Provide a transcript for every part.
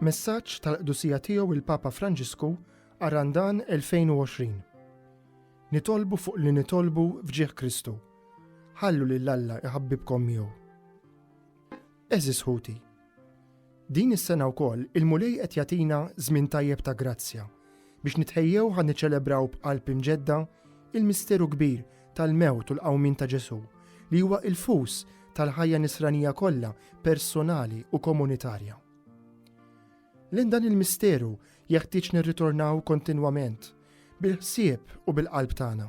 Messaġġ tal-qdusija tiegħu il-Papa Franġisku għar-Randan 2020. Nitolbu fuq li nitolbu f'ġieħ Kristu. Ħallu lil Alla iħabbibkom miegħu. Għeżież ħuti, din is-sena wkoll il-Mulej qed jagħtina żmien tajjeb ta' grazzja biex nitħejjew ħa niċċelebraw b'qalb imġedda il-misteru kbir tal-mewt u l-qawmien ta' Ġesù li huwa il-fus tal-ħajja nisranija kollha personali u komunitarja. Lejn dan il-misteru jeħtieġ nirritornaw kontinwament bil-ħsieb u bil-qalb tagħna.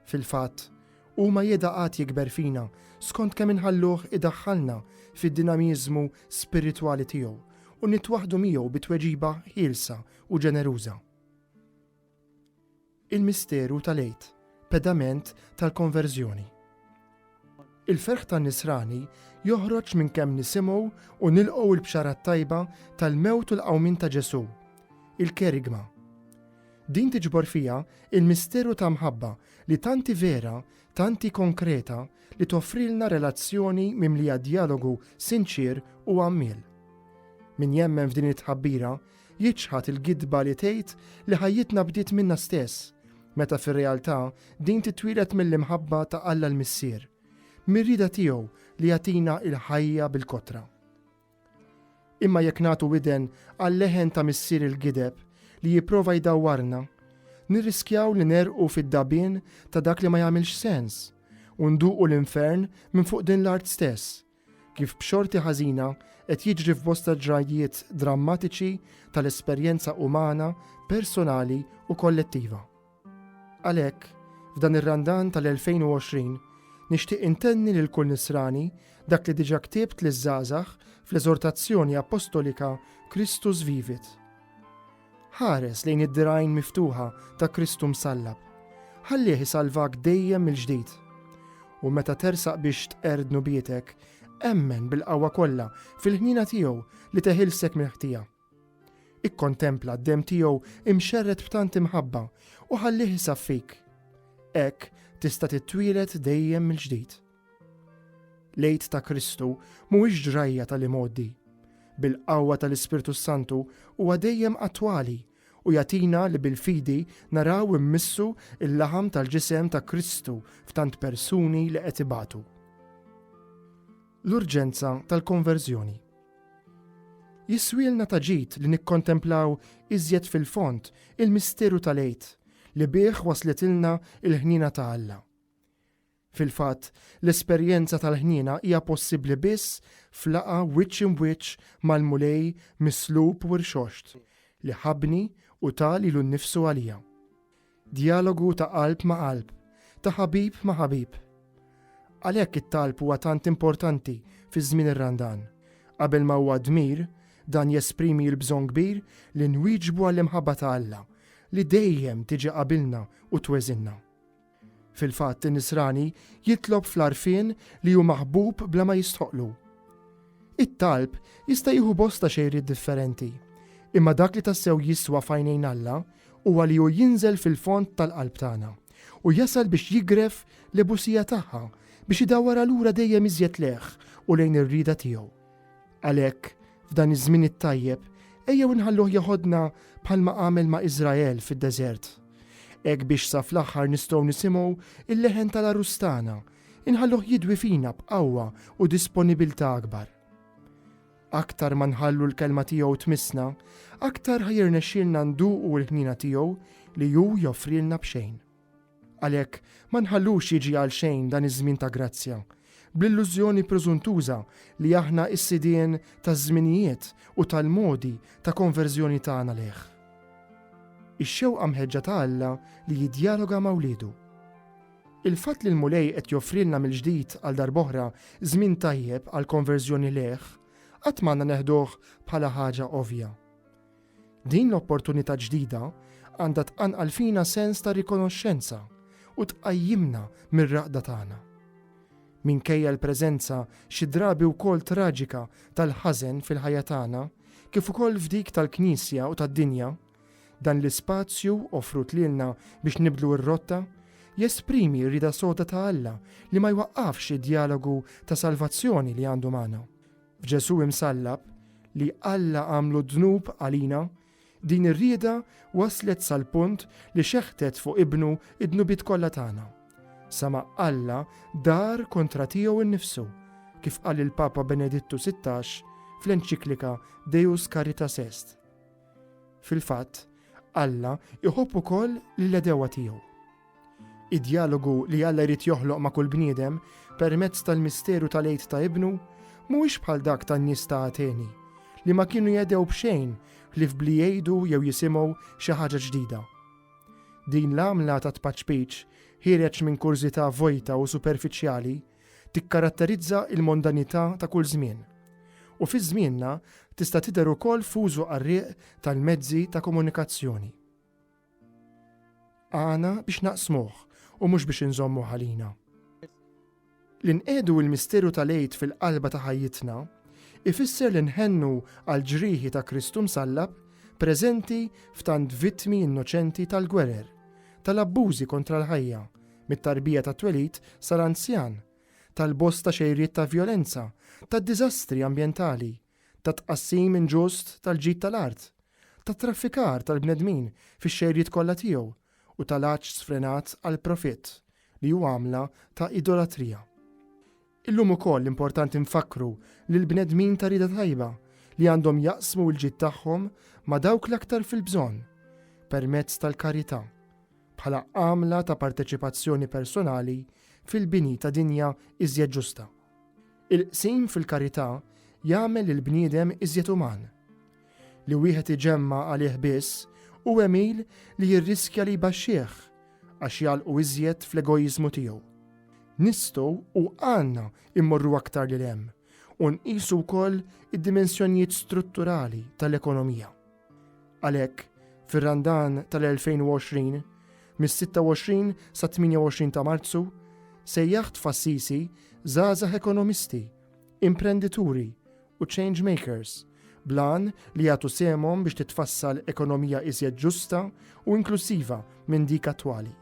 Fil-fatt, huma jeda għad jikber fina skont kemm inħalluh idaħħalna fid-dinamiżmu spiritwali tiegħu u nitwaħħdu miegħu bi tweġiba ħielsa u ġeneruża. Il-misteru tal-Għid, pedament tal-konverżjoni. Il-ferħ tan-Nisrani joħroġ minn kemm nisimgħu u nilqgħu l-Bxara t-Tajba tal-mewt u l-qawmien ta' Ġesù, il-Kerygma. Din tiġbor fiha l-misteru ta' mħabba li tant hi vera, tant hi konkreta li toffrilna relazzjoni mimlija djalogu sinċier u għammiel. Min jemmen f'din it-tħabbira Jiċħad il-gidba li tgħid li ħajjitna bdiet minna stess, meta fir-realtà din titwieled mill-imħabba ta' Alla l-Missier, mir-rieda tiegħu li jagħtina l-ħajja bil-kotra. Imma jekk nagħtu widen għal-leħen ta' missier il-gideb li jipprova jdawwarna, nirriskjaw li nerqu fid-dagħbien ta' dak li ma jagħmilx sens u nduqu l-infern minn fuq din l-art stess, kif b'xorti ħażina qed jiġri f'bosta ġrajjiet drammatiċi tal-esperjenza umana, personali u kollettiva. Għalhekk, f'dan ir-Randan tal-2020, nixtieq intenni lil kull Nisrani dak li diġà ktibt liż-żgħażagħ fl-eżortazzjoni appostolika Christus Vivit. Ħares lejn id-dirgħajn miftuħa ta' Kristu msallab. Ħallih isalvak dejjem mill-ġdid. U meta tersaq biex tqerr dnubietek, emmen bil-qawwa kollha fil-ħniena tiegħu li teħilsek mill-ħtija. Ikkontempla d-demm tiegħu imxerred b'tant imħabba u ħallih isaffik. Hekk tista' titwieled dejjem mill-ġdid. L-Għid ta' Kristu mhuwiex ġrajja tal-imgħoddi. Bil-qawwa tal-Ispirtu s-Santu huwa dejjem attwali u jagħtina li bil-fidi naraw immissu l-laħam tal-ġisem ta' Kristu f'tant persuni li qed ibatu. L-urġenza tal-konverżjoni. Jiswielna ta' ġid li nikkontemplaw iżjed fil-fond il-misteru tal-Għid li bih waslitilna l-ħniena ta' Alla. Fil-fatt, l-esperjenza tal-ħniena hija possibbli biss f'laqgħa wiċċ im'wiċċ mal-Mulej mislub u rxoxt, li ħabbni u ta lilu nnifsu għalija. Djalogu ta' qalb ma' qalb, ta' ħabib ma' ħabib. Għalhekk it-talb huwa tant importanti fi żmien ir-Randan. Qabel ma huwa dmir, dan jesprimi l-bżonn kbir li nwieġbu għall-imħabba ta' Alla li dejjem tiġi qabilna u tweżinna. Fil-fatt in-nisrani jitlob fl-għarfien li hu maħbub bla ma jistħoqqlu. It-talb jista' jieħu bosta xejriet differenti, imma dak li tassew jiswa f'għajnejn Alla huwa li hu jinżel fil-fond tal-qalb tagħna u jasal biex jigref l-ebusija tagħha biex idawwarha lura dejjem iżjed lejh u lejn ir-rieda tiegħu. Għalhekk, f'dan iż-żmien it-tajjeb, ejjew inħalluh jeħodna bħalma għamel ma' Iżrael fid-deżert. Hekk biex sa fl-aħħar nistgħu nisimgħu il-leħen tal-Għarus tagħna, inħalluh jidwi fina b'qawwa u disponibilità akbar. Aktar ma nħallu l-kelma tiegħu tmissna, aktar ħajrnexxielna nduqu l-ħnina tiegħu li hu joffrilna b'xejn. Għalhekk, ma nħallux jiġi għal xejn dan iż-żmien ta' grazzja, bl-illużjoni preżuntuża li aħna s-sidien taż-żminijiet u tal-modi ta' konverżjoni tagħna lejh. Ix-xewqa mħeġġa ta' Alla li jiddjaloga ma' wliedu. Il-fatt li l-Mulej qed joffrilna mill-ġdid għal darb'oħra żmien tajjeb għall-konverżjoni lejh, qatt m'għandna neħduh bħala ħaġa ovvja. Din l-opportunità ġdida għandha tqanqal fina sens ta' rikonoxxenza u tqajjimna mir-raqda tagħna. Minkejja l-preżenza xi drabi wkoll traġika tal-ħażen fil-ħajja tagħna, kif ukoll f'dik tal-Knisja u tad-dinja, dan l-ispazju offrut lilna biex nibdlu r-rotta jesprimi r-rieda soda ta' Alla li ma jwaqqafx id-djalogu ta' salvazzjoni li għandu magħna. F'Ġesù imsallab, li Alla għamlu dnub għalina, din ir-rieda waslet sal-punt li xeħtet fuq Ibnu d-dnubiet kollha tagħna. Sa ma Alla dar kontra tiegħu nnifsu, kif qal il-Papa Benedittu 16 fl-enċiklika Deus Caritas Est. Fil-fatt, Alla iħobb ukoll lill-għedewwa tiegħu. Id-djalogu li Alla jrid joħloq ma' kull bniedem permezz tal-misteru tal-Għid ta' Ibnu mhuwiex bħal dak tan-nies ta' Ateni, li ma kienu jehdew b'xejn ħlief b'li jgħidu jew jisimgħu xi ħaġa ġdida. Din l-għamla ta' tpaċpiċ ħiereġ minn kurżità vojta u superfiċjali tikkaratterizza l-mondanità ta' kull żmien, u fi żmienna tista' tidher ukoll f'użu qarrieq tal-mezzi ta' komunikazzjoni. Għana biex naqsmuh u mhux biex inżommu għalina. Li nqiegħdu l-misteru tal-Għid fil-qalba ta' ħajjitna ifisser li nħennu għal ġrieħi ta' Kristu msallab preżenti f'tant vittmi innoċenti tal-gwerer, tal-abbużi kontra l-ħajja, mit-tarbija tat-twelid sal-anzjan, tal-bosta xejriet ta' vjolenza, tad-diżastri ambjentali, ta' tqassim inġust tal-ġid tal-art, tat-traffikar tal-bnedmin fix-xejriet kollha tiegħu u tal-għatx sfrenat għall-profitt li hu għamla ta' idolatrija. Illum ukoll importanti nfakkru lill-bnedmin ta' rieda tajba li għandhom jaqsmu l-ġid tagħhom ma' dawk l-aktar fil-bżonn permezz tal-karità, bħala għamla ta' parteċipazzjoni personali fil-bini ta' dinja iżjed ġusta. Il-qsim fil-karità jagħmel lill-bniedem iżjed uman. Li wieħed iġemma għalih biss hu għemil li jirriskja li jbaxxih għax jgħalqu iżjed fl-egoiżmu tiegħu. Nistgħu u għandna immorru aktar lil hemm u nqisu wkoll id-dimensjonijiet strutturali tal-ekonomija. Għalhekk, fir-Randan tal-2020, mis-26 sat-28 ta' Marzu, sejjaħt f'Assisi żgħażagħ ekonomisti, imprendituri u change makers bl-għan li jagħtu sehemhom biex titfassal ekonomija iżjed ġusta u inklusiva minn dik attwali.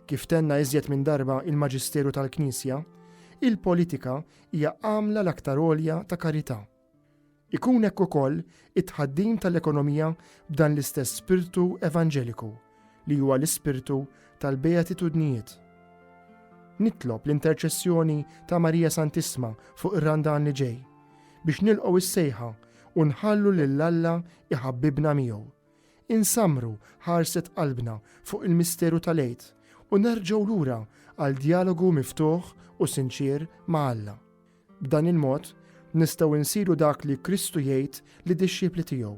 Kif tenna iżjed minn darba il-Maġisteru tal-Knisja, il-politika hija għamla l-aktar għolja ta' karità Ikun hekk ukoll it-tħaddim tal-ekonomija b'dan l-istess spirtu evanġeliku, li huwa l-ispirtu tal-beatitudnijiet. Nitlob l-interċessjoni ta' Marija Santissma fuq ir-Randan li ġej biex nilqgħu s-sejħa u nħallu lil Alla iħabbibna miegħu, insammru ħarset qalbna fuq il-misteru tal-Għid u nerġgħu lura għal djalogu miftuħ u sinċier ma' Alla. B'dan il-mod, nistgħu insiru dak li Kristu jgħid lid-dixxipli tiegħu,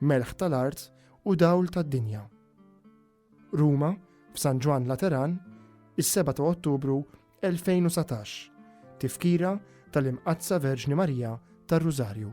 melħ tal-art u dawl tad-dinja. Ruma, f'San Ġwann Lateran, is-7 ta' Ottubru 2019, tifkira tal-Imqaddsa Verġni Marija tar-Rużarju.